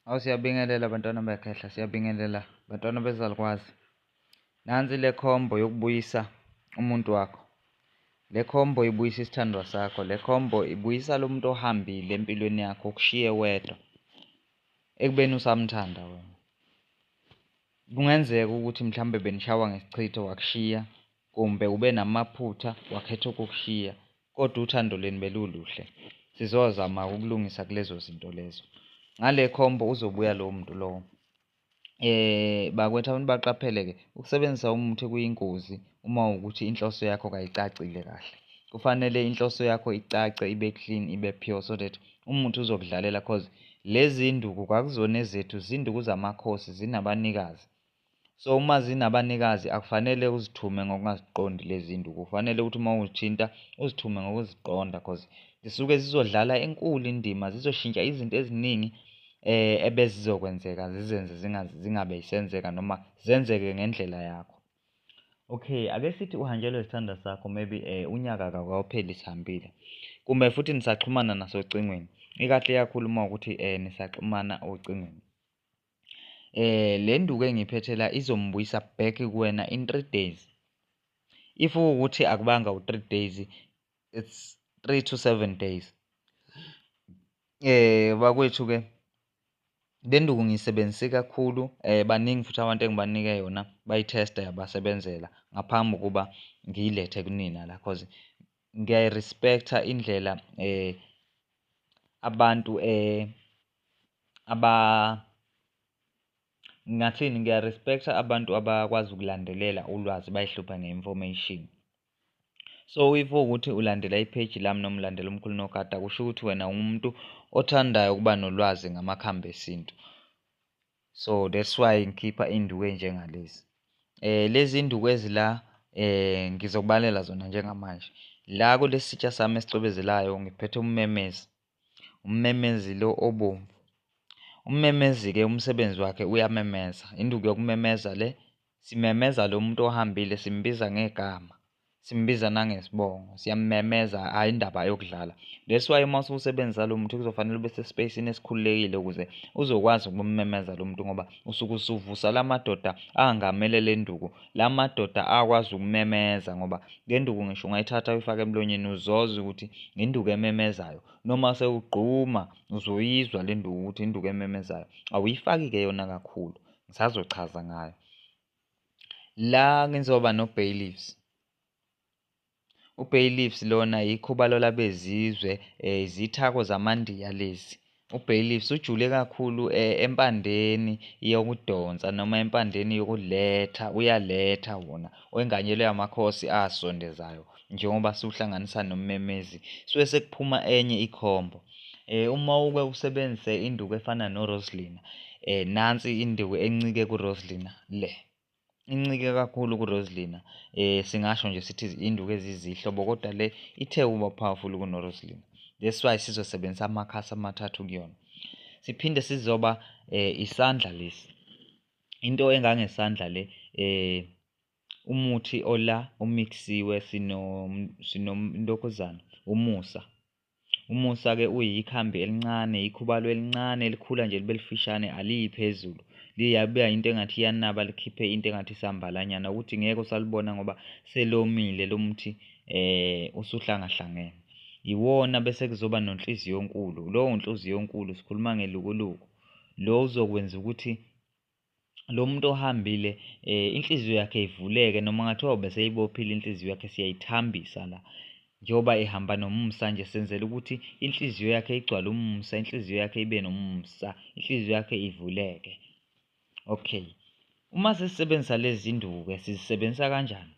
Awu siyabingelela bantwana bekhehla, siyabingelela bantwana bezalukwazi. Nansi le combo yokubuyisa umuntu wakho. Le combo ibuyisa isithandwa sakho, le combo ibuyisa lo muntu ohambile empilweni yakho ukushiye wedwa ekubeni usamthanda wena. Kungenzeka ukuthi mhlawumbe benishawa ngesichitho wakushiya Kumbe ube namaphutha wakhetha ukukushiya, kodwa uthando lwenu beluluhle. Sizozama-ke ukulungisa kulezo zinto lezo. Ngale khombo uzobuya lowo muntu lowo. Eh bakwethu abantu baqaphele-ke ukusebenzisa umuthi kuyingozi uma ukuthi inhloso yakho kayicacile kahle. Kufanele inhloso yakho icace ibe clean ibe pure so that umuthi uzokudlalela cause lezi nduku kwakuzona ezethu zinduku zamakhosi zinabanikazi. So uma zinabanikazi akufanele uzithume ngokungaziqondi lezinto kufanele ukuthi uma uzithinta uzithume ngokuziqonda cause zisuke zizodlala enkulu indima zizoshintsha izinto eziningi eh ebezizokwenzeka zizenze zingabe isenzeka noma zenzeke ngendlela yakho okay ake sithi uhanjelwe isithanda sakho maybe eh unyaka akawupheli sihambile kumbe futhi nisaxhumana nasocingweni ikahle kakhulu uma ukuthi eh nisaxhumana ocingweni eh le nduku engiphethe la izombuyisa back kuwena in 3 days if ukuthi akubanga u3 days it's 3 to 7 days eh bakwethu ke le nduku ngiyisebenzise kakhulu eh baningi futhi abantu engibanike yona bayithesta yabasebenzela ngaphambi kokuba ngiyilethe kunina la cause ngiyayirespecta indlela eh abantu eh Ngingathini ngiya-respect-a abantu abakwazi ukulandelela ulwazi bayihluphe nge-information. So if kuwukuthi ulandela ipheji lami noma ulandela umkhulu onogada kusho ukuthi wena ungumuntu othandayo ukuba nolwazi ngamakhambi esintu. So that's why ngikhipha induku enjengalezi. Lezi induku ezila ngizokubalela zona njengamanje. La kulesi sitsha sami esicwebezelayo ngiphethe ummemeze. Ummemezi lo obomvu. Ummemezi-ke umsebenzi wakhe uyamemeza. Induku yokumemeza le simemeza lo muntu ohambile simbiza ngegama. Simbiza nangesibongo. Siyamemeza hhayi indaba yokudlala. That's why uma ususebenzisa lo muntu kuzofanele ube sesipeyisini esikhululekile ukuze uzokwazi ukumemeza lo muntu ngoba usuke usuvusa la madoda angamele le nduku la madoda akwazi ukumemeza ngoba le nduku ngisho ungayithatha uyifake emlonyeni uzoza ukuthi ngenduku ememezayo noma sewugquma uzoyizwa le nduku ukuthi induku ememezayo awuyifaki-ke yona kakhulu ngisazochaza ngayo la ngizoba no-bay leaves UBay Leafs lona yikho balola bezizwe eh, izithako zamandiya lezi uBay Leafs ujule kakhulu eh, empandeni yokudonsa noma empandeni yokuletha uyaletha wona wenganyelwe amakhosi asondezayo njengoba siwuhlanganisa nommemezi suke sekuphuma enye ikhombo eh uma uke usebenzise induku efana noRoslina eh nansi induku encike kuRoslina le incike kakhulu kuRosalina eh singasho nje sithi induku ezizihlobo kodwa le ithe uba powerful kunoRosalina that's why sizosebenzisa amakhasi amathathu kuyona siphinde sizoba eh isandla lesi into engangesandla le eh umuthi ola omixisiwe sino sinontokuzana umusa Umusa-ke uyikhambi elincane, ikhubalo elincane elikhula nje libe lifishane aliyi phezulu. Liyabuya into engathi iyanaba likhiphe into engathi isambalanyana ukuthi ngeke usalibona ngoba selomile lo muthi eh usuhlangahlangene. Iwona bese kuzoba nonhliziyonkulu. Lowo nhliziyonkulu sikhuluma ngelukuluku. Lo uzokwenza ukuthi lo muntu ohambile eh inhliziyo yakhe ivuleke noma ngathiwa ubeseyibophile inhliziyo yakhe siyayithambisa la njengoba ehamba nomusa nje senzela ukuthi inhliziyo yakhe igcwale umusa inhliziyo yakhe ibe nomusa inhliziyo yakhe ivuleke okay uma sisebenzisa lezi zinduku-ke sizisebenzisa kanjani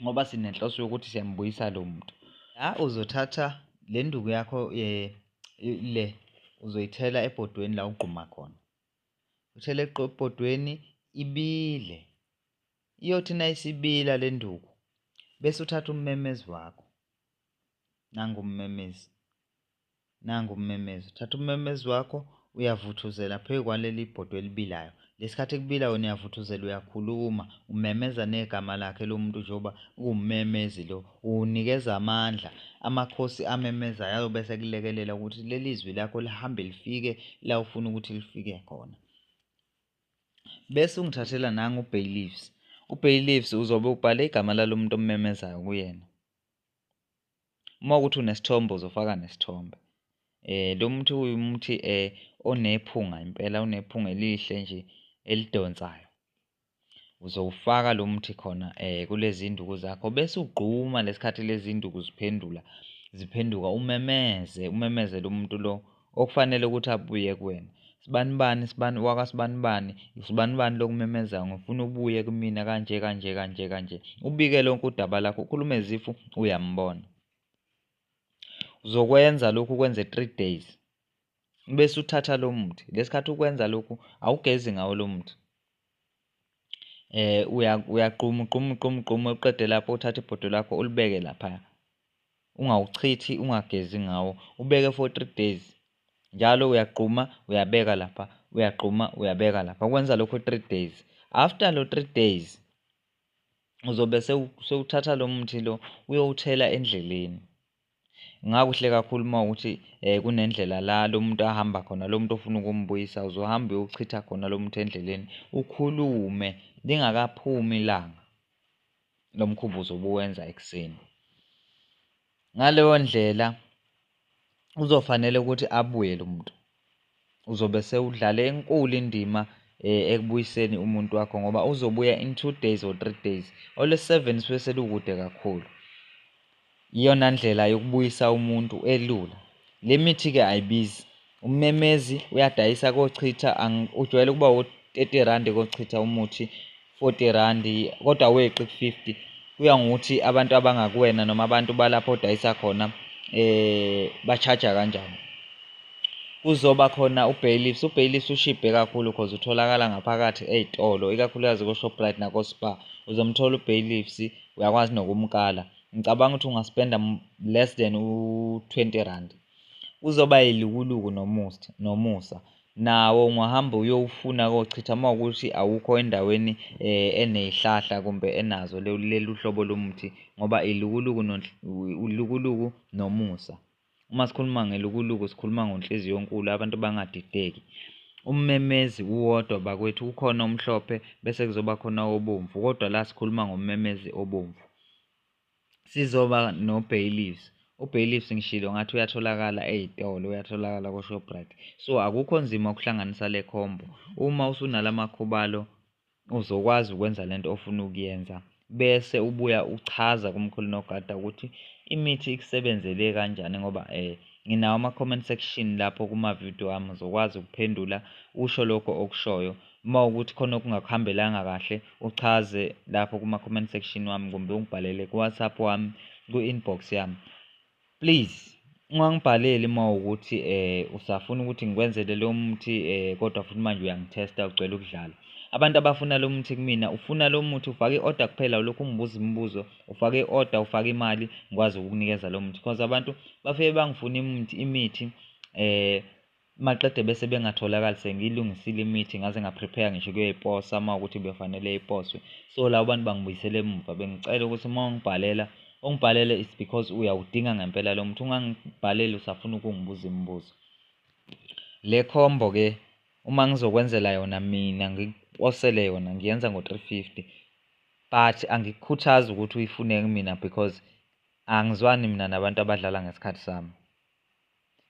ngoba sinenhloso yokuthi siyambuyisa lo muntu la uzothatha le nduku yakho um le uzoyithela ebhodweni la ugquma khona utheleqe ebhodweni ibile iyothi nayisibila le nduku bese uthatha ummemezi wakho nangu ummemezi nangu ummemezi uthatha ummemezi wakho uyavuthuzela phezu kwaleli bhodwe elibilayo lesikhathi kubila wena uyavuthuzela uyakhuluma umemeza negama lakhe lomuntu njengoba uwumemezi lo Unikeza amandla, amakhosi amemezayo ayobe esekulekelela ukuthi leli zwi lakho lihambe lifike la ufuna ukuthi lifike khona. Bese ungithathela nangu uBailiffs. UBailiffs uzobe ubhale igama lalo muntu ommemezayo kuyena. Uma ukuthi unesithombe uzofaka nesithombe. Eh lo muthi uyumuthi eh onephunga impela unephunga elihle nje elidonsayo. uzowufaka lo muthi khona um kulezi nduku zakho bese ugquma lesikhathi lezi nduku ziphendula ziphenduka umemeze umemeze lo muntu lo okufanele ukuthi abuye kuwena sibanibani sibani wakasibanibani sibanibani lokumemeza ngifuna ubuye kumina kanje kanje kanje kanje ubike lonke udaba lakho ukhulume zifu uyambona uzokwenza lokhu kwenze three days bese uthatha lo muthi lesikhathi ukwenza lokhu awugezi ngawo lo muthi eh uyaqhuma uqhuma uqhuma uqhuma uqede lapho uthatha ibhodo lakho ulibeke lapha ungawuchithi ungagezi ngawo ubeke for 3 days njalo uyaqhuma uyabeka lapha uyaqhuma uyabeka lapha kwenza lokho 3 days after lo 3 days uzobe sewuthatha lo muthi lo uyowuthela endleleni Kungakuhle kakhulu uma ukuthi um kunendlela la lo muntu ahamba khona lo muntu ofuna ukumbuyisa uzohamba uyochitha khona lo muntu endleleni ukhulume lingakaphumi ilanga lo mkhumbuzo obuwenza ekuseni ngaleyo ndlela uzofanele ukuthi abuye lo muntu uzobe sewudlale enkulu indima eh, ekubuyiseni umuntu wakho ngoba uzobuya in two days or three days olwesi-seven suke selukude kakhulu iyona ndlela yokubuyisa umuntu elula le mithi-ke ayibizi ummemezi uyadayisa kochitha ujwayele ukuba wo-thirty randi kochitha umuthi 40 rand kodwa weqi ku-50 kuya ngokuthi abantu abangakuwena noma abantu balapho odayisa khona eh ba-charge kanjani kuzoba khona ubailiffs ubailiffs ushibhe kakhulu cause utholakala ngaphakathi ey'tolo ikakhulukazi ko-shoprite nako-spar uzomthola ubailiffs uyakwazi nokumkala ngicabanga ukuthi ungaspenda less than u-20 rand kuzoba yilukuluku nomusa nawo ungahambe uyowufuna kochitha uma ukuthi awukho endaweni eh, eneyihlahla kumbe enazo lelu hlobo lomuthi ngoba ilukuluku ulukuluku nomusa uma sikhuluma ngelukuluku sikhuluma ngonhliziyo yonkulu abantu bangadideki ummemezi uwodwa bakwethu kukhona omhlophe bese kuzoba khona obomvu kodwa la sikhuluma ngommemezi obomvu Sizoba no-bailiffs, u-bailiffs ngishilo ngathi uyatholakala ey'tolo, uyatholakala ko-Shoprite. So akukho nzima ukuhlanganisa le combo. Uma usunala makhubalo uzokwazi ukwenza le nto ofuna ukuyenza bese ubuya uchaza kumkhulu nogada ukuthi imithi ikusebenzele kanjani ngoba um nginawo ama-comment section lapho kuma-video ami uzokwazi ukuphendula usho lokho okushoyo Uma ukuthi khona okungakuhambelanga kahle uchaze lapho kuma-comment section wami kumbe ungibhalele ku-WhatsApp wami ku-inbox yami. Please ungangibhaleli uma ukuthi eh usafuna ukuthi ngikwenzele lo muthi eh kodwa futhi manje uyangithesta ugcwele ukudlala. Abantu abafuna lo muthi kumina ufuna lo muthi ufake i-order kuphela ulokhu ungibuza imibuzo ufake i-order ufake imali ngikwazi ukukunikeza lo muthi because abantu bafike bangifuna imithi imithi eh Maqede bese bengatholakali sengiyilungisile imithi ngaze ngaprepare ngisho kuyoyiposa uma ukuthi befanele iposwe so labo bantu bangibuyisele emuva bengicela ukuthi uma ungibhalela ungibhalele is because uyawudinga ngempela lo muthi ungangibhaleli usafuna ukungibuza imibuzo le combo ke uma ngizokwenzela yona mina ngikuposele yona ngiyenza ngo-350 but angikukhuthazi ukuthi uyifune kumina because angizwani mina nabantu abadlala ngesikhathi sami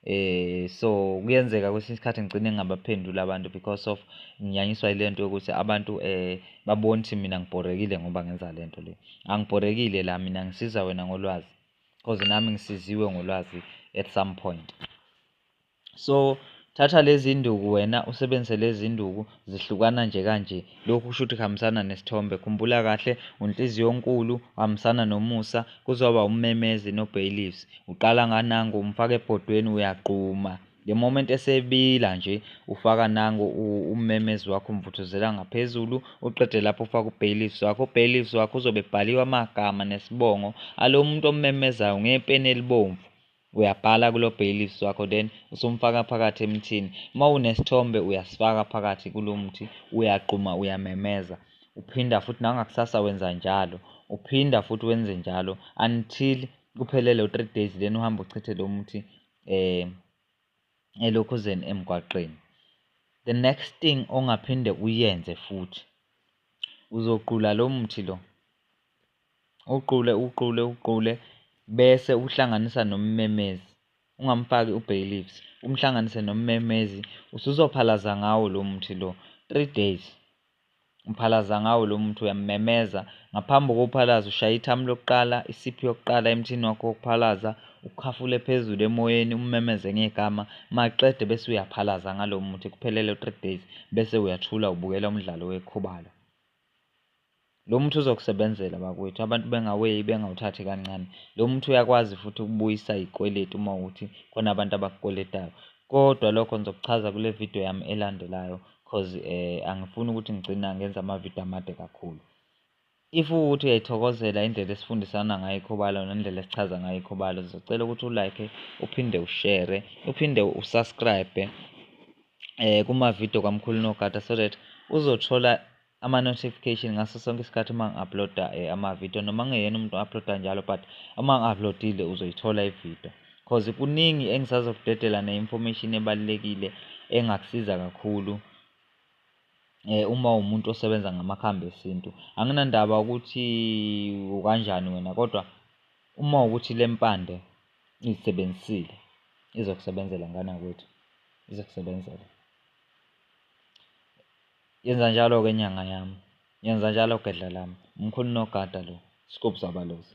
eh so kuyenzeka kwesinye isikhathi ngigcine ngingabaphenduli abantu because of nginyanyiswa ile nto yokuthi abantu eh babone ukuthi mina ngibhorekile ngoba ngenza le nto le angibhorekile la mina ngisiza wena ngolwazi cause nami ngisiziwe ngolwazi at some point so thatha lezi nduku wena usebenzise lezi nduku zihlukana nje kanje lokhu kusho ukuthi kuhambisana nesithombe khumbula kahle unhliziyonkulu uhambisana nomusa kuzoba ummemezi nobailiffs uqala nganango umfaka ebhodweni uyagquma the moment esebila nje ufaka nango ummemezi wakho umvuthuzela ngaphezulu uqede lapho ufaka ubailiffs wakho ubailiffs wakho uzobe ebhaliwe amagama nesibongo alo muntu ommemezayo ngepeni elibomvu Uyabhala kulo bailiffs wakho then usumfaka phakathi emthini. Uma unesithombe uyasifaka phakathi kulo mthi uyagquma uyamemeza. Uphinda futhi nangakusasa wenza njalo. Uphinda futhi wenze njalo until kuphele lo 3 days then uhamba uchithe lo muthi eh elokhuzeni emgwaqeni. The next thing ongaphinde uyenze futhi uzoqula lo muthi lo Uqule uqule uqule bese uhlanganisa nommemezi ungamfaki u-bay leaves umhlanganise nommemezi usuzophalaza ngawo lo muthi lo three days uphalaza ngawo lo muthi uyammemeza ngaphambi kokuphalaza ushaya ithamu lokuqala isiphi yokuqala emthini wakho wokuphalaza ukhafule phezulu emoyeni ummemeze ngegama maqede bese uyaphalaza ngalo muthi kuphelele three days bese uyathula ubukela umdlalo wekhubalo. Lo muthi uzokusebenzela bakwethu abantu bengaweyi bengawuthathi kancane. Lo muthi uyakwazi futhi ukubuyisa izikweletu uma ukuthi khona abantu abakukweletayo. Kodwa lokho ngizokuchaza kule video yami elandelayo cause eh angifuni ukuthi ngigcina ngenza amavidiyo amade kakhulu. If ukuthi uyayithokozela indlela esifundisana ngayo ikhobalo nendlela esichaza ngayo ikhobalo, sizocela ukuthi ulike, uphinde ushere, uphinde usubscribe eh kuma-video kaMkhulu Nogada so that uzothola ama-notification ngaso sonke isikhathi uma ngi-uploada um eh, ama-video noma ngingeyena umuntu o-uploada njalo but uma ngi-uploadile uzoyithola ividio cause kuningi engisazokudedela ne-information ebalulekile engakusiza kakhulu eh uma umuntu osebenza ngamakhambi esintu anginandaba ukuthi ukanjani wena kodwa uma ukuthi le mpande izisebenzisile izokusebenzela ngana kwethu izokusebenzela Yenza njalo-ke nyanga yami. Yenza njalo gedla lami. Umkhulu nogada lo. Scoop Sabalusi.